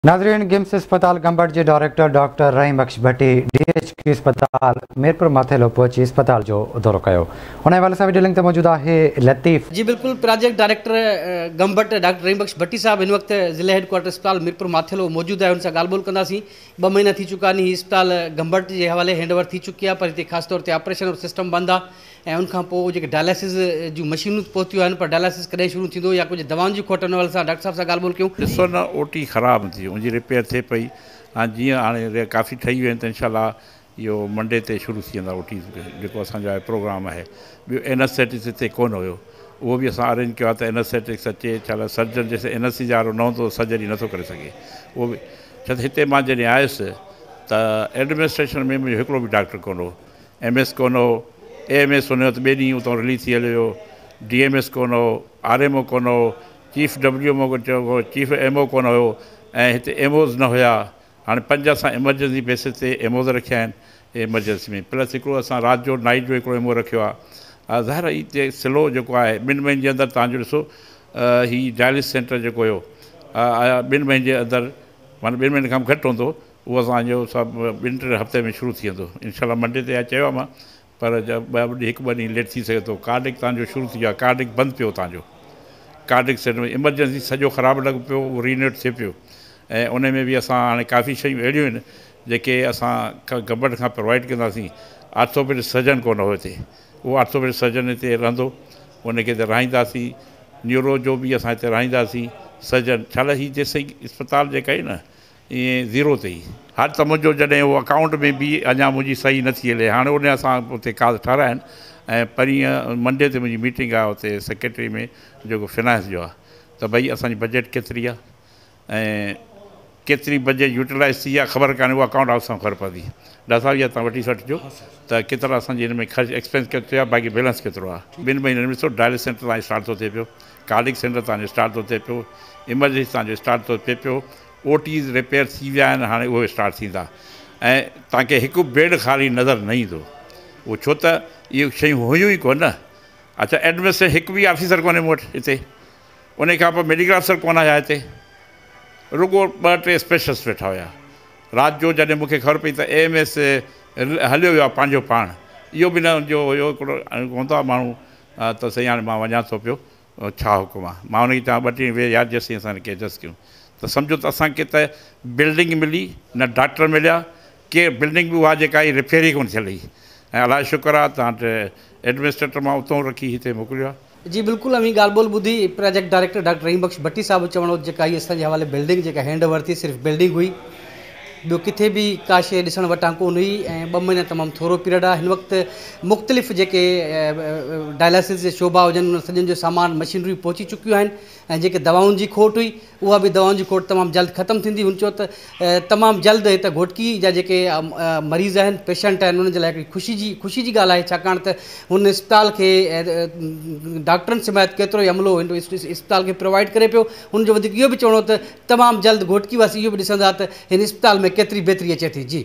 ناظرين گمس اسپتال گمبٽ جي director doctor Rahim Bakhsh Bhatti D H Q اسپتال ميرپور ماٿيلو پهچي اسپتال جو دورو ڪيو انهيء حوالي سان وڊيو لنڪ تي موجود آهي لطيف. جي بلڪل project director Gambat doctor Rahim Bakhsh Bhatti صاحب هن وقت ضلعي هيڊ ڪوارٽر اسپتال ميرپور ماٿيلو موجود آهي هن سان ڳالهه ٻولهه ڪنداسين ٻه مهينا ٿي چڪا آهن هي اسپتال گمبٽ جي حوالي هينڊ اوور ٿي چڪي آهي پر هتي خاص طور تي آپريشن جو سسٽم بند آهي ۽ ان کان پوء جيڪي ڊائلائسز جون مشينون پهتيون آهن پر ڊائلائسز ڪڏهن شروع ٿيندو يا ڪجهه دوائن جي کوٽ ان حوالي سان ڊاڪٽر صاحب سان ڳالهه ٻولهه ڪيون. ڏسو نه او ٽي خراب هوندي ان جي ريپيئر ٿئي پئي ۽ جيئن هاڻي ري ڪافي ٺهي ويا آهن ته انشاء الله اهو منڊي تي شروع ٿي ويندا او ٽيز به جيڪو اسان جو آهي پروگرام آهي ٻيو اينسٿيٽڪس هتي ڪونه هيو اهو به اسان ارينج ڪيو آهي ته اينسٿيٽڪس اچي ڇا لاء سرجن جيسين اينسٿيزيا وارو نه هوندو سرجري نٿو ڪري سگهي اهو به ڇا ته هتي مان جڏهن آيس ته ايڊمنسٽريشن ۾ منهنجو هڪڙو به ڊاڪٽر ڪونه هو ايم ايس ڪون هو، اي ايم ايس هن وقت ٻئي ڏينهن اتان رليز ٿي هليو ويو، ڊي ايم ايس ڪون هو، آر ايم او ڪون هو، چيف ڊبليو ايم او چيو ويو، چيف ايم او ڪون هيو ۽ هتي ايم اوز نه هيا، هاڻي پنج اسان ايمرجنسي بيسز تي ايم اوز رکيا آهن ايمرجنسي ۾ پلس هڪڙو اسان رات جو نائيٽ جو هڪڙو ايم او رکيو آهي، ظاهر آهي هتي سلو جيڪو آهي ٻن مهينن جي اندر تهان جو ڏسو هي ڊائلس سينٽر جيڪو هيو آيا ٻن مهينن جي اندر معنيٰ ٻن مهينن کان به گهٽ هوندو اهو اسان جو سڀ ٻن ٽن هفتن ۾ شروع ٿي ويندو انشاء الله منڊي تي آء چيو آهي مان پر هڪ ٻه ڏينهن ليٽ ٿي سگهي ٿو ڪارڊڪ تان جو شروع ٿي ويو آهي ڪارڊڪ بند پيو تان جو ڪارڊڪ سيٽ ۾ ايمرجنسي سڄو خراب لڳو پيو اهو رينويٽ ٿي پيو ۽ ان ۾ به اسان هاڻي ڪافي شيون اهڙيون آهن جيڪي اسان گورنمينٽ کان پرووائيڊ ڪنداسين آرٿوپيڊڪ سرجن ڪونه هو هتي اهو آرٿوپيڊڪ سرجن هتي رهندو ان کي هتي رهائينداسين نيورو جو به اسان هتي رهائينداسين سرجن ڇا لاء هي جيسين اسپتال جيڪا آهي نه ائين زيرو تي ئي. هر ته منهنجو جڏهن اهو اڪائونٽ ۾ به اڃا منهنجي صحيح نه ٿي هلي هاڻي ان اسان اتي ڪاز ٺهرايا آهن ۽ پرينهن منڊي تي منهنجي ميٽنگ آهي اتي سيڪريٽري ۾ جيڪو فنانس جو آهي ته ڀئي اسان جي بجيٽ ڪيتري آهي ۽ ڪيتري بجيٽ يوٽيلائز ٿي آهي خبر ڪانهي اها اڪائونٽ هائوس کان خبر پوندي ڊار صاحب اها توهان وٺي سٺجو ته ڪيترا اسان جي ان ۾ خرچ ايڪسپينس ڪيترو ٿيو آهي باقي بيلنس ڪيترو آهي. ٻن مهينن ۾ ڏسو ڊائلس سينٽر تهان جو اسٽارٽ ٿو ٿئي پيو ڪارڊڪ سينٽر تهان جو اسٽارٽ ٿو ٿئي پيو ايمرجنسي تهان جو اسٽارٽ ٿو ٿئي پيو او ٽيز ريپيئر ٿي ويا آهن هاڻي اهي اسٽارٽ ٿيندا ۽ تان کي هڪ به بيڊ خالي نظر نه ايندو اهو ڇو ته اهي شيون هيون ئي ڪونه اڇا ايڊمنسٽريشن هڪ به آفيسر ڪونهي مون وٽ هتي ان کان پوء ميڊيڪل آفيسر ڪونه آيا هتي رڳو ٻه ٽي اسپيشلس ويٺا هيا رات جو جڏهن مونکي خبر پئي ته اي ايم ايس هليو ويو آهي پنهنجو پاڻ اهو به نه جو هيو هڪڙو هوندا ماڻهو ته سائين هاڻي مان وڃان ٿو پيو ڇا حڪم آ. مان هن کي چوان ٻه ٽي ويهه يار جيسين اسان هن کي ايڊجسٽ ڪيون ته سمجهو ته اسان کي ته بلڊنگ ملي نه ڊاڪٽر مليا ڪي بلڊنگ به اها جيڪا هي رپيئر ئي ڪونه ٿيل هئي ۽ الله جو شڪر آ ته هاڻ ايڊمنسٽريٽر مان اتون رکي هتي موڪليو آ. جي بلڪل اوهين ڳالهه ٻولهه ٻڌي project director doctor Rahim Bakhsh Bhatti صاحب جو چوڻ هو ته جيڪا هي اسان جي حوالي بلڊنگ جيڪا هينڊ اوور ٿي صرف بلڊنگ هئي ٻيو ڪٿي به ڪا شيء ڏسڻ وٽان ڪونه هئي ۽ ٻه مهينا تمام ٿورو پيريڊ آهي هن وقت مختلف جيڪي ڊائلاسز جي شعبا هجن انهن سڄن جو سامان مشينريون پهچي چڪيون آهن ۽ جيڪي دوائن جي کوٽ هئي اها به دوائن جي کوٽ تمام جلد ختم ٿيندي هن چيو ته تمام جلد هت گهوٽڪي جا جيڪي مريض آهن پيشنٽ آهن انهن جي لاء هڪڙي خوشي جي خوشي جي ڳالهه آهي ڇاڪاڻ ته هن اسپتال کي ڊاڪٽرن سميت ڪيترو ئي عملو اسپتال کي پرووائيڊ ڪري پيو هن جو وڌيڪ اهو به چوڻو هو ته تمام جلد گهوٽڪي واسي اهو به ڏسندا ته هن اسپتال ۾ ڪيتري بهتري اچي ٿي جي.